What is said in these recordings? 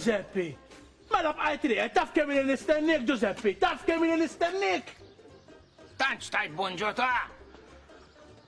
Giuseppe. Mela bqajt li, taf kemm li nistennik, Giuseppe, taf kemm li nistennik. Tantx tajt bonġota.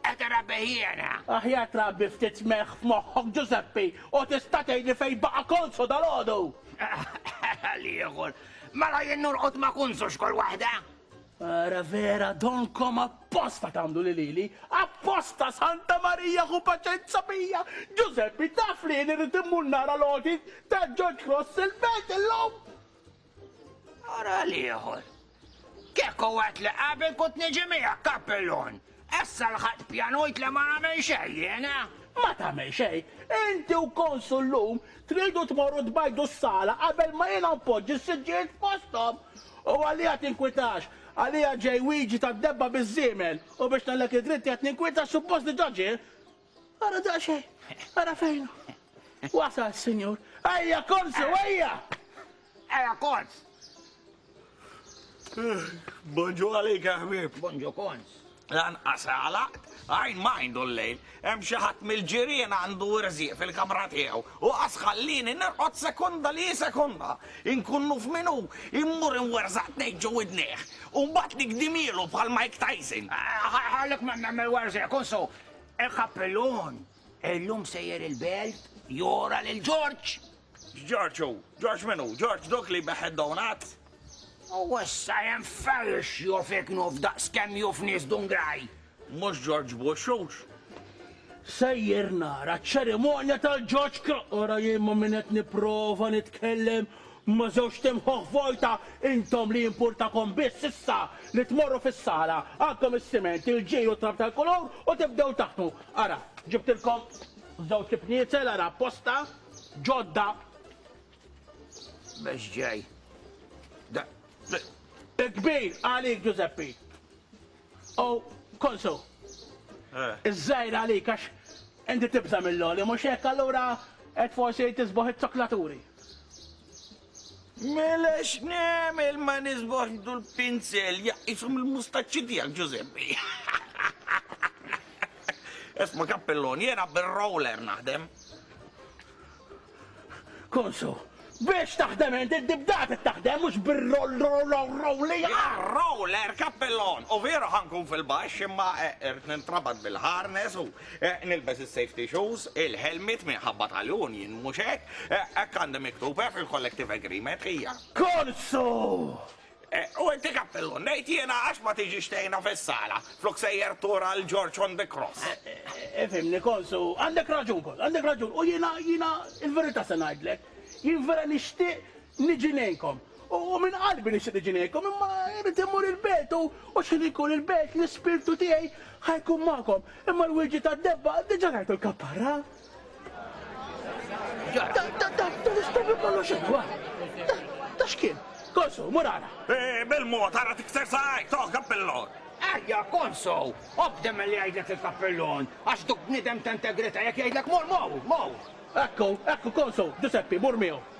Qed irabbi jiena! Aħjar trabbi ftit melħ f'moħħok, Ġużeppi, u tista' tgħidli fejn baqa' Konsu dalgħodu? L-ieħor, mela jien norqod ma' Kunsu x'kull waħda? Ara vera, donkom apposta tagħmlu li lili, apposta! Santa Marija ħu paċenza bija! Ġużeppi, taf li jien irrid immur nara l-għoti ta' George Cross il-belt illum? Ara l-ieħor. Kieku għat li qabel kut niġi miegħek kappellun. Essa l-ħadd pjanujt li ma nagħmel xejn jiena. Ma tagħmel xejn. Inti u konsul llum tridu tmorru tbajdu s-sala qabel ma jiena npoġġi s-siġġijiet f'posthom. U għalija tinkwitax. Għalija ġej wieġi tad-debba biż-żiemel. U biex ngħidlek id-dritt qiegħed ninkwita suppost diġà ġie. Ara daqsxejn, ara fejn. Wasal s-Sinjur. Ejja, korsu, ejja! Ejja, kors! Bonġu għalik, ħbib. Bonġu kons. Lan għasalaq, għajn ma għindu l-lejl, hemm xi ħadd mill-ġirien għandu irżiq fil-kamra tiegħu u qas ħallini nirqod sekonda li sekonda. Inkunnu f'minu immur inwerzaq tnejn ġew idnejh u mbagħad nikdimielu bħal Mike Tyson. Ħallek ma nagħmel werżiq, kunsu, Il-kappellun! Illum sejjer il-belt jora lil Ġorġ! Ġorġ hu, Ġorġ minu, Ġorġ dok li beħed donat? U issa jem felx juf iknuf daqs kem juf nis dungraj. Mux Ġorġ Buxux? Sejjer nara ċerimonja tal-Ġorġ Kroqora jien ma minnet niprofa nitkellem Ma żewġt imħuħ vojta intom li jimpurtakom biss issa li tmorru fis-sala, għandkom is-siment, il-ġir u t-trab tal-kulur u tibdew taħdmu. Ara, ġibtilkom żewġ ibniezel, ara apposta, ġodda. Mhux ġej. Da. Il-kbir għalik Ġużeppi. U Konsu. Iż-żgħir għalik għax inti tibża' mill-għoli, mhux hekk allura qed forsi tisboħ iż-zoklaturi. Mela x'negħmel ma nisbaħx dul pinzel jaqqisu mill-mustaċċi tiegħek Ġużeppi. Esma kappellon, jiena bir-roller naħdem. Konsu, biex taħdem int id-dibdat taħdem mhux bir-rolli. Roller kappellon, u veru ħankun fil-baxx imma eh, irt nintrabat bil-harness u Eh, nilbes il-safety shoes, il-helmet minħabba tal-union, mux hekk, eh, hekk għandem miktub eh, fil-collective agreement hija. Korsu! U inti kappellu, nejt jena għax ma tiġi xtejna fis-sala, flok sejjer tura l-George on the cross. Efimni, konsu, għandek raġun, konsu, għandek raġun, u jena, jena, il-verita se najdlek, jien vera nishtiq niġi nejkom. U minn qalbi nixtieq niġi ngħidkom, imma irrid immur il-belt, u x'ħin inkun il-belt, l-Ispirtu tiegħi ħa jkun magħkom. Imma l-wieġi tad-debba diġà rajtu l-kapparra. Dan l-istupju kollu x'inhu, ha? Da x'kien? Konsu, mur ara. Bil-mod, ara tikser saqajk, toh, kappillon! Ejja, Konsu, obdi milli jgħidlek il-kappillon, għax duk bniedem ta' integrità, jekk jgħidlek mur, mur, mur! Ekku, ekku, Konsu, Ġużeppi, mur miegħu.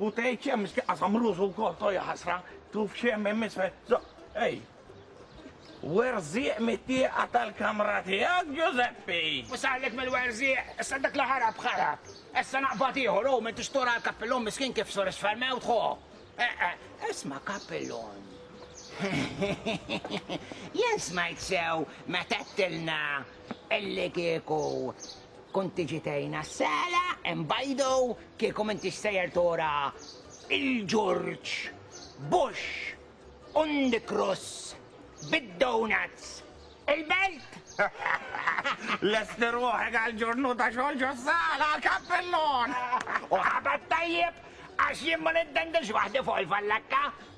U tgħid xemm miski qasam rużu wkoll to ja ħasra, tuf xemm hemm isfel. So, ej. Werżieq mit-tieqa tal-kamra tiegħek, Ġużeppi! U sallek mill-werżieq, issa dak li ħarab ħarab. Issa naqbad ieħor u m'intix tora l-kappillon miskin kif sur isfel mewt ħo. Eh, eh, isma' kappillon. Jien smajt sew meta qedtilna illi kieku Kont tiġi tgħinha s-sala, hemm bajdo, kieku m'intix sejjer tora il-ġurġ, bush, undikruss, bid-donuts, il-belt! Lester ruħek għal ġurnu ta' xogħol ġo sala għal kappellon! U ħabat tajjeb għax jien ma niddendilx waħdi fuq il-fallakka.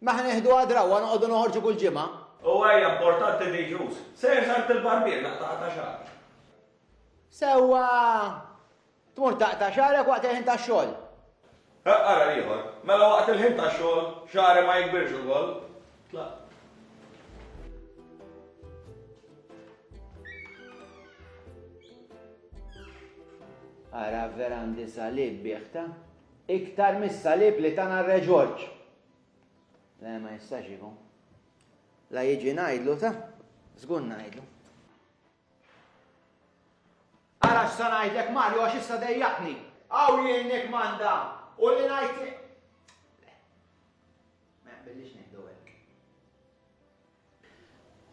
Ma ħa neħduha drawwa noqogħdu noħorġu kull ġimgħa? U ejja importanti li jġus. Sejr s'għand il-barbier naqta' ta' xagħri. Sewwa! Tmur taqta' xagħrek waqt il-ħin tax-xogħol? Ħa ara l-ieħor. Mela waqt il-ħin tax-xogħol xagħri ma jikbirx ukoll? Tlaqt. Ara vera għandi salib bih ta'. Iktar mis-salib li tana r-Re Ġorġ. Le ma jistax ikun. La jiġi ngħidlu ta' żgur ngħidlu. Ara x'sa ngħidlek Mario għax issa dejjaqni. Aw jien nikmanda u li ngħid Ma jaqbillix ngħidu hekk.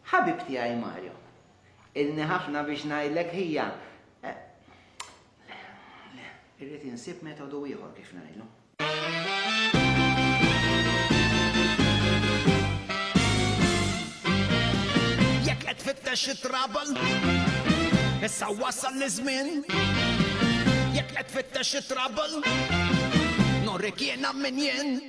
Ħabib tiegħi Mario. Ilni ħafna biex ngħidlek ħija. Eh, le, le, irrid insib metodu ieħor kif ngħidlu. Jekk qed fittex it-trouble, issa wasal l-żmien. Jekk qed fittex it-trouble, norik jiena min jien.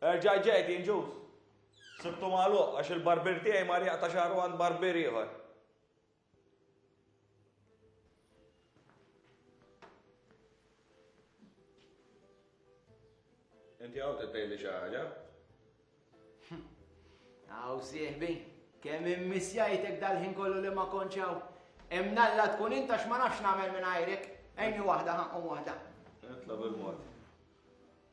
Erġa' ġejt, injus. Sibtu magħluq għax il-barbier tiegħi mar jaqta' xagħru għand barbier ieħor. Inti għaw t-tejli xaħġa? Għaw sieħbi, kem immisjajtek dal-ħin kollu li ma konċaw. Emnalla tkun inta x'ma nafx namel minn għajrek, ejni wahda ħaqqom wahda. Etla bil-mod.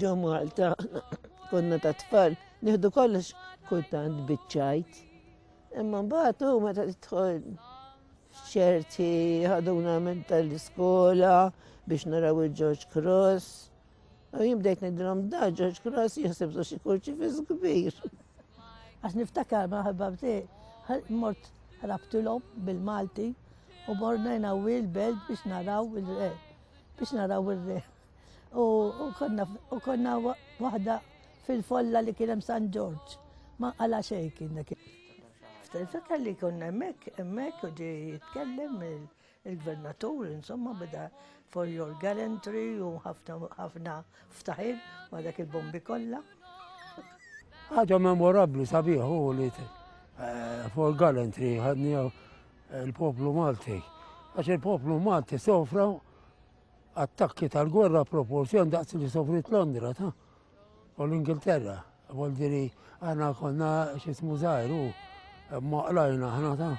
Ġo Malta konna ta' tfal nieħdu kollox kultant biċċajt. Imma mbagħad hu meta tidħol ċerti ħaduna minn tal-iskola biex naraw il-George Cross. U jibdejt nidrom da George Cross jisib su xi kurċifiż kbir. Għax niftakar ma ħababti, mort rabtilhom bil-Malti u morna jnawil belt biex naraw il-re, biex naraw il-re. u konna waħda fil-folla li kienem San Ġorġ. Ma għala xej kien dak. Ftakar li konna emmek, emmek u ġi jitkellem il-gvernatur, insomma, bida for your gallantry u ħafna ftaħir ma dak il-bombi kollha. Ħaġa memorabli sabiħ u li eh, for gallantry ħadni eh, il-poplu Malti. Għax il-poplu Malti sofra attakki tal-gwerra proporzjon daqs li sofrit Londra ta' u l-Ingilterra. Voldiri għana konna xismu zaħiru, ma qlajna ħna ta'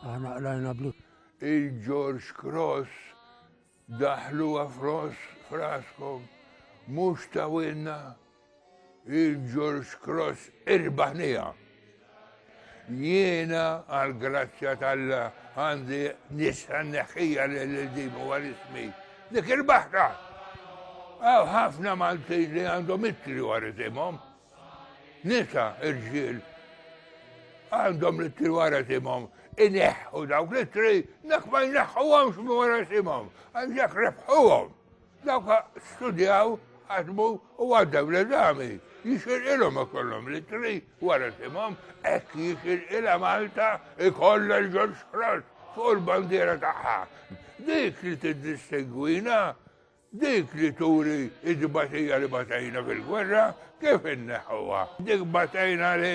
għana qlajna blu. Il-George Cross daħlu għafros fraskom, mux ta' winna. Il-George Cross irbaħniha. Jiena għall-grazzja tal-la għandi nisa neħħija l-dim u għal-ismi. Dik irbaħta! Għaw ħafna Maltin li għandhom ittri u għaritimom. Nisa irġil għandhom li t-tri wara timom, ineħħu dawk li t-tri, dak ma jneħħu għamx wara timom, għandak rebħu għom. Dawk studjaw, ħadmu u għaddew l-eżami. Jixirqilhom ikollhom litri wara simhom hekk jixirqilha Malta ikollha l-Ġorġ Frost fuq il-bandiera tagħha. Dik li tiddistingwina, dik li turi id-batija li batajna fil-gwerra, kif inneħħuha? Dik batajna li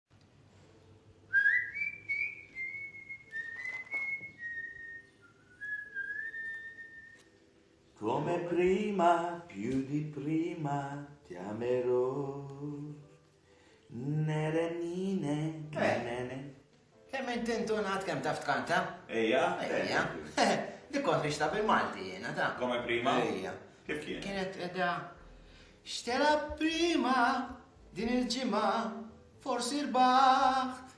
Come prima, più di prima, ti amerò. Nere nine, eh. nene. Kemm inti intunat kemm taf tkanta? Ejja, ejja. Li kont nixta bil-Malti jiena ta. Come prima? Ejja. Kif kien? Kienet edha Xtela prima din il-ġimgħa forsi rbaħt.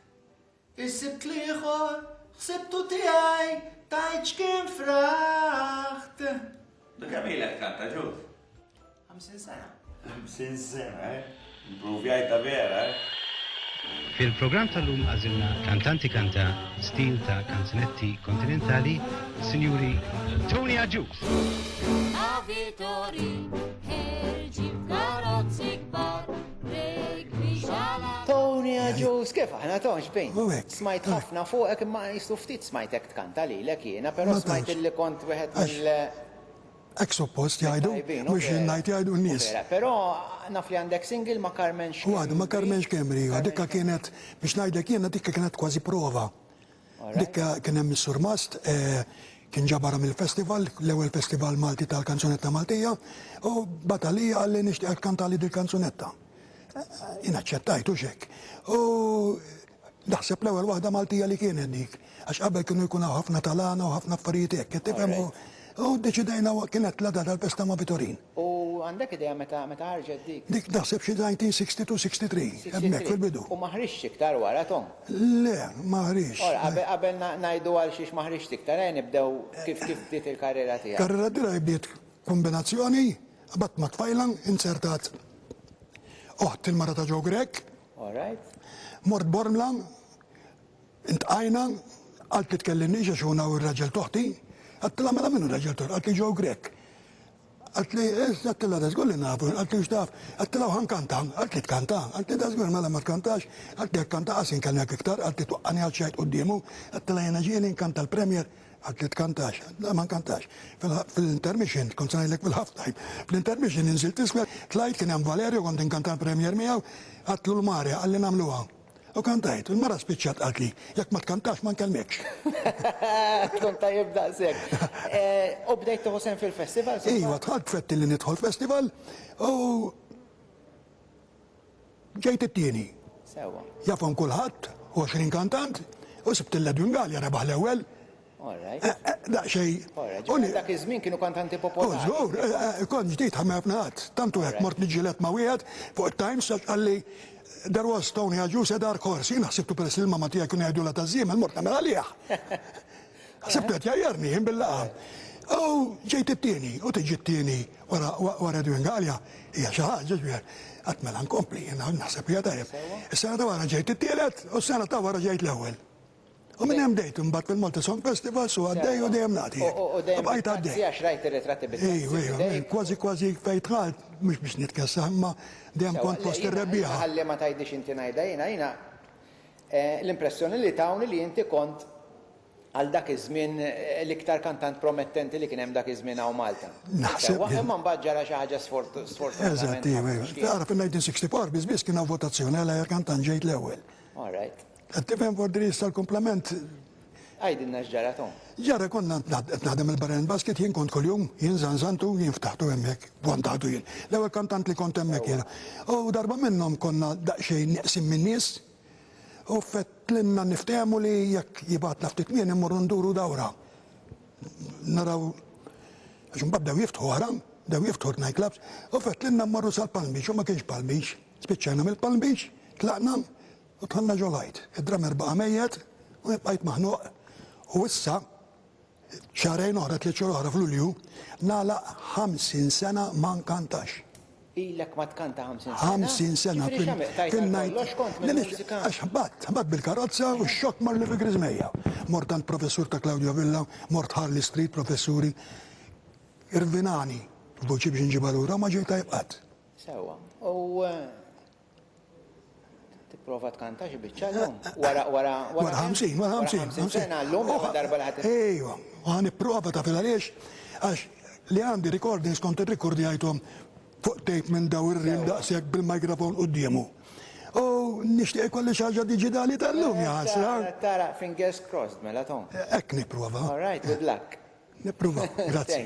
Is-Sibt l-ieħor ħsibtu tiegħi tgħid x'kien fraħt. Du kemm ilek tkanta ġud? Ħamsin sena. Ħamsin sena, eh? Improvjajta vera, eh? Fil-programm tal-lum għażilna kantanti kanta stil ta' kanzunetti kontinentali, Sinjuri Tony Agius. Avitori. Tony Aġus, kif aħna tonx bin? Smajt ħafna fuqek imma jistu ftit smajtek tkanta li l-ek jena, pero smajt li kont wieħed mill- Ek suppost jgħidu, mux jien ngħid jgħidu n-nies. Pero naf li għandek single ma' Carmen Xkembri. U għadu ma' Carmen Xkembri, dikka kienet biex ngħidlek jiena dikka kienet kważi prova. Dik kien hemm is-surmast, kien ġabarha mill-festival, l-ewwel festival Malti tal-kanzunetta Maltija, u bata li qalli nixtieqek tkantali dil-kanzunetta. Jien aċċettajt hux hekk. U naħseb l-ewwel waħda Maltija li kienet dik, għax qabel kienu jkun hawn ħafna tal-għana u ħafna affarijiet hekk, qed tifhem, u ddeċidejna kienet l-għada tal-festa ma' Vitorin. U għandek idea meta meta ħarġet dik? Dik naħseb xi 1962, 63, hemmhekk fil-bidu. U ma ħriġtx iktar wara, Tom? Le, ma ħriġtx. Ora, qabel qabel ngħidu għalxiex ma ħriġtx iktar, ejja nibdew kif kif bdiet il-karriera tiegħek. Karriera tiegħi bdiet kombinazzjoni, qabadt ma' tfajla, inzertat oħt il-mara ta' Joe Grech. All right. Mort Bormla, Iltqajna, qalt li tkellimniex għax hu naw ir-raġel t'oħti. Għattilha mela min hu r-raġel t'oħti? Qaltli Joe Grech. Qaltli, eż, għattilha da żgur li nafu, qaltli u x'taf? Għattilha u ħa nkanta, qaltli tkanta, qaltli da żgur mela ma tkantax, qaltli jekk kanta qas inkellmek iktar, qaltli twaqqagħni għal x'għid quddiemu, għattilha jiena ġieli nkanta l-Premier, qaltli tkantax, qaltli ma nkantax, fil-intermission, kont se ngħidlek fil-half time, fl-intermission inżilt isfel, tlajt kien hemm Valerio kont inkanta l-Premier miegħu, għadt lul Mario, qalli nagħmluha. U kantajt, u l-mara spiċċat qaltli, jekk ma tkantax ma nkellmekx. Tkun tajjeb daqshekk. Eh, u bdejt tieħu sehem fil-festivals? Iva, dħalt fett li nidħol festival u ġejt it-tieni. Sewwa. Jafhom kulħadd, 20 kantant, u sibt il-Ledwin Gallia rebaħ l-ewwel. Daqsxejn. Dak iż-żmien kienu kantanti popolari. Żgur, kont ġdid ħa ma jafni ħadd. Tant hu hekk mort niġġieled ma' wieħed fuq it-Times għax qalli There was Tony Agius a dark horse. Jiena ħsibtu peress li l-mamma tiegħi kienu jgħidulha taż-żiemel mort nagħmel għalih. Ħsibtu qed jgħajjarni jien bil-laqgħa. U ġejt it-tieni u tiġi t-tieni wara Edwin Galea hija xi ħaġa x'bieħ. Qatt mela nkompli jiena naħseb hija tajjeb. Is-sena ta' wara ġejt it-tielet u s-sena ta' wara ġejt l-ewwel. U minn hemm bdejt imbagħad fil-Malta Song Festivals u għaddej u dejjem nagħti. U dejjem bqajt għaddej. Għax rajt ir-ritratti bit-taxi. Ejwa, kważi kważi fejn dħalt, mhux biex nitkessa, imma dejjem kont fost ir-rebbieħa. Ħalli ma tgħidlix inti ngħidha jiena, jiena l-impressjoni li tawni li inti kont għal dak iż-żmien l-iktar kantant promettenti li kien hemm dak iż-żmien hawn Malta. Naħseb. Imma mbagħad ġara xi ħaġa sfortunata. Eżatt, ejwa. Tagħraf in-1964 biss biss kien hawn votazzjoni għal aħjar kantant ġejt l-ewwel. All right. Qed tifhem fuq id-dri issa l-kumplament? Għidilna x'ġara Tom. Ġara konna qed naħdem il-barra minn basket jien kont kuljum, jien żanżantu, jien ftaħtu hemmhekk, vantatu jien. L-ewwel kantant li kont hemmhekk jiena. U darba minnhom konna daqsxejn neqsin min-nies u fetlilna niftehmu li jekk jibgħatna ftit kmieni mmorru nduru dawra. Naraw għax imbagħad bdew jiftħu wara, bdew jiftħu t-night clubs u fetlilna mmorru sal-Palm Beach u ma kienx Palm Beach. Spiċċajna mill-Palm Beach, tlaqna U tħalla ġo l-għajt. Id-drummer baqa' mejjet u jien bqajt maħnuq u issa, xahrejn oħra, tliet xhur oħra f'Lulju, nagħlaq 50 sena ma nkantax. Ilek ma tkanta 50 sena? 50 sena. Ġifieri x'għamilt? Tajt għal kollox kont mill-mużika? Għax ħbatt, ħbatt bil-karozza u x-xokk marrli fi griżmejja. Mort għand professur ta' Claudio Villa, mort Harley Street, professuri. Irvinani f'buċi biex inġibha lura u ma ġej tajjeb qatt. Sewwa. U Tipprova tkanta xi biċċa llum? Wara wara wara 50, wara 50 sena llum oh, darba li ħadd. Ejwa, u ħa nipprova taf għaliex għax li għandi recordings kont irrikordjajthom fuq tape minn daw ir-riem daqshekk bil-mikrofon quddiemu. U nixtieq ikolli xi ħaġa diġitali tal-lum jaħasra. Eh, tara, fingers crossed mela tom. Hekk nipprova. All right, good luck. Nipprova, grazzi.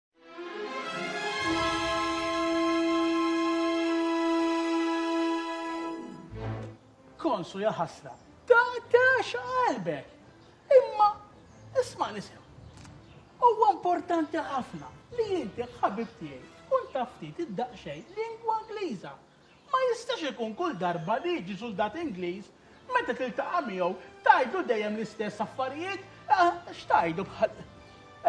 Konsu ja ħasra, ta' tax qalbek. Imma, isma' nisim. Huwa importanti ħafna li jinti ħabib tiegħi tkun taftit id-daqxej lingwa Ingliża Ma jistax ikun kull darba li jiġi suldat Ingliż, meta tiltaqa' miegħu tgħidlu dejjem l-istess affarijiet, x'tgħidlu bħal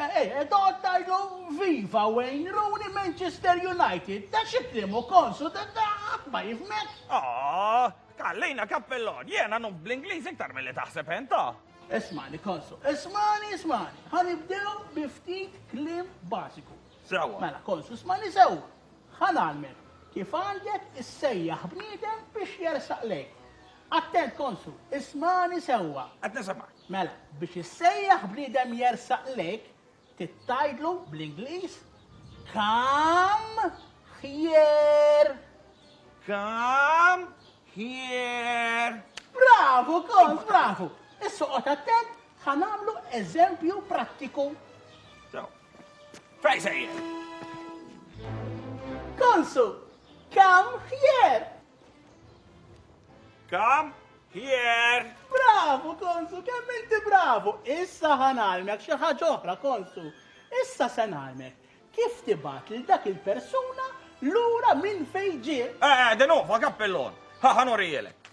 eh, toqgħod tgħidlu Viva Wayne Rooney Manchester United, ta' xi kliem hu konxu ta' ħadd ma jifhmek. Aww, Kallina Cappellon, jiena nuf bl-Ingliż iktar milli taħseb int, oh! Ismagħni Konsu, ismagħni, ismagħni, ħa nibdew bi ftit kliem bażiku. Sewwa. Mela Konsu, ismagħni sewwa. Ħa ngħallmek kif għandek issejjaħ bniedem biex jersaq lejk. Attent Konsu, ismagħni sewwa. Qed nisimgħek. Mela, biex issejjaħ bniedem jersaq lejk, trid tgħidlu bl-Ingliż Come here. Come here. Bravu, Kons, bravu. Issa qgħod attent Ħa nagħmlu eżempju prattiku. Fej sejjer? Konsu, kam ħjer! Kam ħjer! Bravo, konsu, kemm inti bravo! Issa ħanalmek xi ħaġa oħra, konsu. Issa se nagħlmek kif tibat lil dak il-persuna lura minn fejn ġie. Eh, eh, denu, fa kappellon. Ħa ħanurijelek.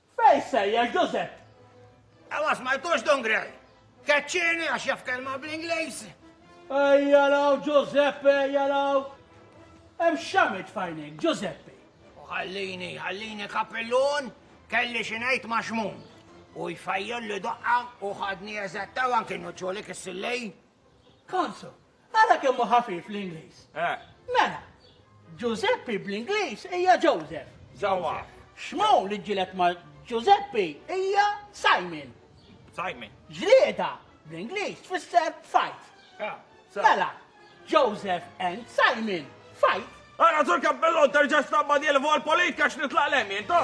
Fejn sejjer Ġużepp? E ma smajtux Don Gray? Keċċieni għax jaf kelma bl-Ingliż. Ejja law Ġużeppi, ejja law. Hemm xamit fajnek, Ġużeppi. U ħallini, ħallini kapillun, kelli xi ngħid ma' xmun. U jfajjol li doqqa u ħadni eżattaw anki nuċċolik is-sillej. Konsu, Ara kemm hu ħafif l-Ingliż! Mela, Ġużeppi bl-Ingliż hija Joseph. Sewwa. Xmou li ġġieled ma' Ġużeppi hija Simon. Simon. Ġlieda, bl-Ingliż, tfisser fight. Mela, Joseph and Simon fight. Ara, Sur Cappellon, terġa' stampa' dil-vol politika x'nitlaq l-hemm jien, ta!